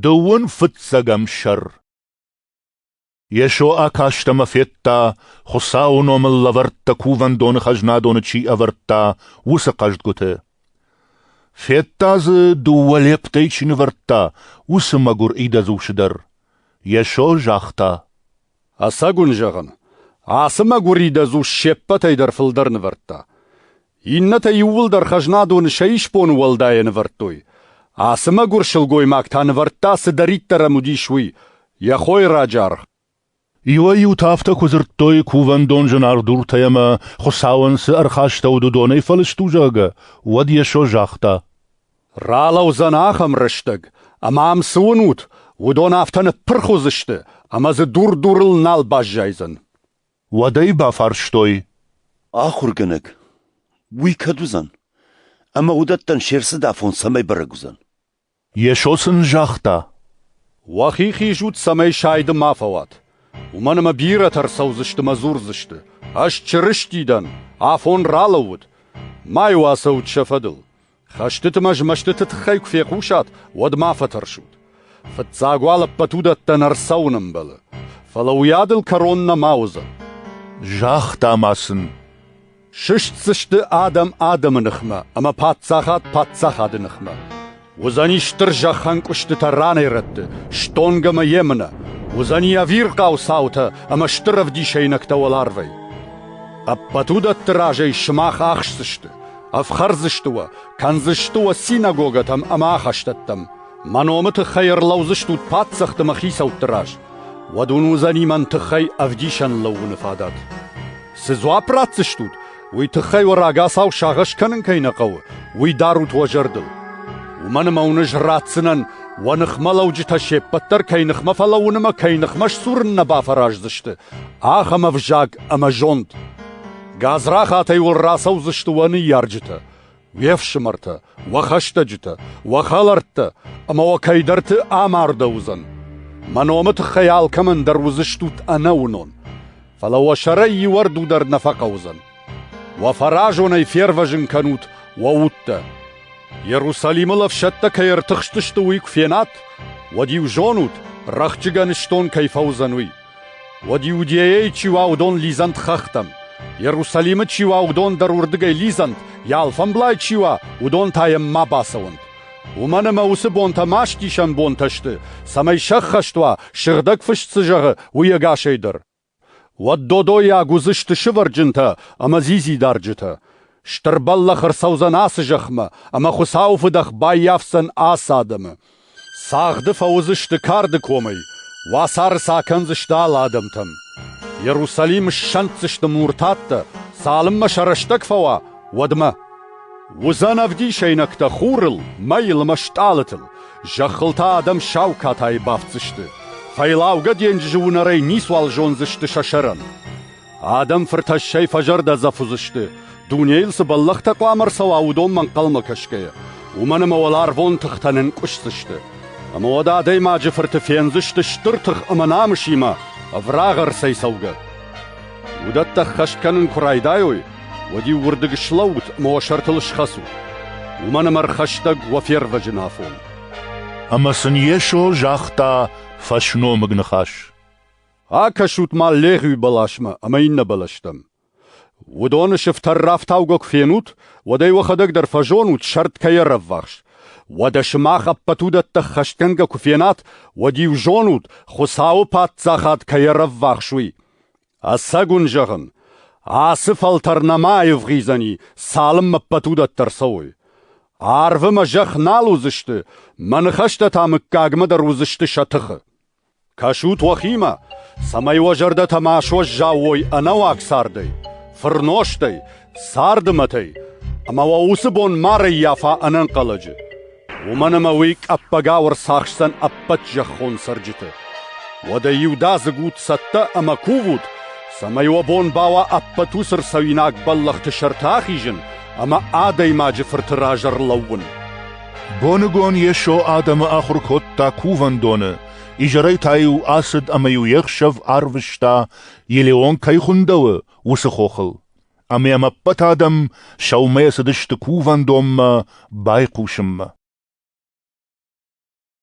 Дыууын фыццӕгӕм сӕр Йесо акаст ӕмӕ федта, Хуыцауы номыл лӕвӕрттӕ кувӕндоны хӕзнадоны чи ӕвӕрдта, уыцы хъӕздгуыты. Федта дзы, дыууӕ лептӕй чи нывӕрдта, уыцы мӕгуыр идӕдзусы дӕр. Йесо загъта: «Ӕцӕг уын зӕгъын, ацы мӕгуыр идӕдзус се ппӕтӕй дӕр фылдӕр нывӕрдта. Иннӕтӕ иууылдӕр хӕзнадоны сӕ исбоны уӕлдайӕ нывӕрдтой. Ацы мӕгуыр сылгоймаг та нывӕрдта, цыдӕриддӕр ӕм уыдис, уый — йӕ хойы раджаргъ. Иуӕй-иутӕ афтӕ куы дзырдтой кувӕндон зынаргъ дуртӕй ӕмӕ, Хуыцауӕн цы ӕрхастӕуыд, уыдонӕй фӕлыст у, зӕгъгӕ, уӕд Йесо загъта. «Ралӕудзӕн ахӕм рӕстӕг, ӕмӕ ам цы уынут, уыдон афтӕ ныппырх уыдзысты, ӕмӕ дзы дур дурыл нал баззайдзӕн». Уӕд ӕй бафарстой: Ахуыргӕнӕг, уый кӕд уыдзӕн? Ӕмӕ уыдӕттӕн се рцыдафон цӕмӕй бӕрӕг уыдзӕн? Йесо сын загъта: Уӕхи хизут, цӕмӕй сайды ма фӕуат. Уымӕн ӕмӕ бирӕтӕ ӕрцӕудзысты мӕ дзурдзысты: Ӕз Чырысти дӕн, афон ралӕууыд. Ма-иу ацӕут сӕ фӕдыл. Хӕстыты ӕмӕ змӕстыты тыххӕй куы фехъусат, уӕд ма фӕтӕрсут. Фыццаг уал ӕппӕт уыдӕттӕн ӕрцӕуын ӕмбӕлы, фӕлӕ уыйадыл кӕрон нӕма уыдзӕн. Загъта ма сын: Сыстдзысты адӕм адӕмы ныхмӕ ӕмӕ паддзахад паддзахады ныхмӕ. Уыдзӕни стыр зӕххӕнкъуыстытӕ ранӕй-рӕтты, стонг ӕмӕ емынӕ, уыдзӕни ӕвирхъау цаутӕ ӕмӕ стыр ӕвдисӕйнӕгтӕ уӕларвӕй. Ӕппӕт уыдӕтты разӕй сымах ӕхсдзысты, Ӕфхӕрдзысты уӕ, кӕндзысты уӕ синагогӕтӕм ӕмӕ ахӕстӕттӕм. Мӕ номы тыххӕй ӕрлӕудзыстут паддзӕхты мӕ хицӕутты раз. Уӕд уын уыдзӕни мӕн тыххӕй ӕвдисӕн лӕууыны фадат. Цы дзуапп ратдзыстут, уый тыххӕй уӕ рагацау сагъӕс кӕнын кӕй нӕ хъӕуы, уый дарут уӕ зӕрдыл. Уымӕн ӕмӕ уын ӕз ратдзынӕн, уӕ ныхмӕлӕуджытӕ се ппӕт дӕр кӕй ныхмӕ фӕлӕууын ӕмӕ кӕй ныхмӕ сдзурын нӕ бафӕраздзысты, ахӕм ӕвзаг ӕмӕ зонд. Гадзрахатӕй уыл рацӕудзысты уӕ ныййарджытӕ, уе фсымӕртӕ, уӕ хӕстӕджытӕ, уӕ хӕлӕрттӕ ӕмӕ уӕ кӕйдӕрты амардӕуыдзӕн. Мӕ номы тыххӕй алкӕмӕн дӕр уыдзыстут ӕнӕуынон, фӕлӕ уӕ сӕрӕй иуӕрду дӕр нӕ фӕхъӕудзӕн. Уӕ фӕразонӕй фервӕзын кӕнут уӕ удтӕ. Иерусалимыл ӕфсӕдтӕ кӕй ӕртыхстысты, уый куы фенат, уӕд-иу зонут, рӕхджыгӕн стон кӕй фӕуыдзӕн, уый. Уӕд Иудейӕй чи уа, уыдон лидзӕнт хӕхтӕм. Иерусалимы чи уа, уыдон дӕр уырдыгӕй лидзӕнт, йӕ алфӕмблай чи уа, уыдон та йӕм ма бацӕуӕнт. Уымӕн ӕмӕ уыцы бонтӕ мастисӕн бонтӕ сты, цӕмӕй сӕххӕст уа, сыгъдӕг фыст цы зӕгъы, уый ӕгасӕй дӕр. Уӕд додойаг уыдзысты сывӕрджынтӕ ӕмӕ дзидзидарджытӕ. Стыр бӕллӕх ӕрцӕудзӕн ацы зӕхмӕ, ӕмӕ Хуыцауы фыдӕх баййафдзӕн ацы адӕмы. Цагъды фӕуыдзысты карды комӕй, уацары сӕ акӕндзысты алы адӕмтӕм. Иерусалим ссӕнддзысты муртаттӕ, цалынмӕ сӕ рӕстӕг фӕуа, уӕдмӕ. Уыдзӕн ӕвдисӕйнӕгтӕ хурыл, мӕйыл ӕмӕ стъалытыл, зӕххыл та адӕм сау катайы бафтдзысты. Фӕйлаугӕ денджызы уынӕрӕй ницуал зондзысты сӕ сӕрӕн. Адӕм фыртӕссӕй фӕзӕрдӕдзӕф уыдзысты, дунейыл цы бӕллӕхтӕ хъуамӕ ӕрцӕуа, уыдонмӕ ӕнхъӕлмӕ кӕсгӕйӕ, уымӕн ӕмӕ уӕларвон тыхтӕ нынкъуысдзысты. Ӕмӕ уӕд адӕймаджы фырты фендзысты стыр тых ӕмӕ намысимӕ ӕврагъ ӕрцӕй цӕугӕ. Уыдӕттӕ ӕххӕст кӕнын куы райдайой, уӕд-иу уырдыг слӕуут ӕмӕ уӕ сӕртыл схӕцут, уымӕн ӕмӕ ӕрхӕстӕг уӕ фервӕзын афон. Ӕмӕ сын Йесо загъта фӕсномыг ныхас: Акӕсут-ма легъуи бӕласмӕ ӕма иннӕ бӕлӕстӕм. Уыдоны сыфтӕр рафтаугӕ куы фенут, уӕд ӕй уӕхӕдӕг дӕр фӕзонут, сӕрд кӕй ӕрӕввахс. Уӕдӕ сымах ӕппӕт уыдӕттӕ ӕххӕстгӕнгӕ куы фенат, уӕд-иу зонут, Хуыцауы Паддзахад кӕй ӕрӕввахс, уый. Ӕцӕг уын зӕгъын, ацы фӕлтӕр нӕма аивгъуыйдзӕни, цалынмӕ ӕппӕт уыдӕттӕ ӕрцӕуой. Арвы мӕ зӕхх нал уыдзысты, мӕ ныхӕстӕ та мыггагмӕ дӕр уыдзысты сӕ тыхы. Кӕсут уӕхимӕ, цӕмӕй уӕ зӕрдӕтӕ ма суӕззау уой ӕнӕуаг цардӕй, фырнозтӕй, царды мӕтӕй ӕмӕ уӕ уыцы бон ма рӕййафа ӕнӕнхъӕлӕджы, уымӕн ӕмӕ уый къӕппӕгау ӕрцахсдзӕн ӕппӕт зӕххон цӕрджыты. Уӕдӕ иудадзыг ут цӕттӕ ӕмӕ кувут, цӕмӕй уӕ бон бауа ӕппӕт уыцы рцӕуинаг бӕллӕхты сӕрты ахизын ӕмӕ адӕймаджы фырты раз ӕрлӕууын. Боныгон Йесо адӕмы ахуыр кодта кувӕндоны, изӕрӕй та-иу ацыд ӕмӕ-иу йе хсӕв арвыста, Елеон кӕй хуындӕуы, уыцы хохыл. Ӕмӕ йӕм ӕппӕт адӕм сӕумӕ цыдысты кувӕндонмӕ байхъусынмӕ.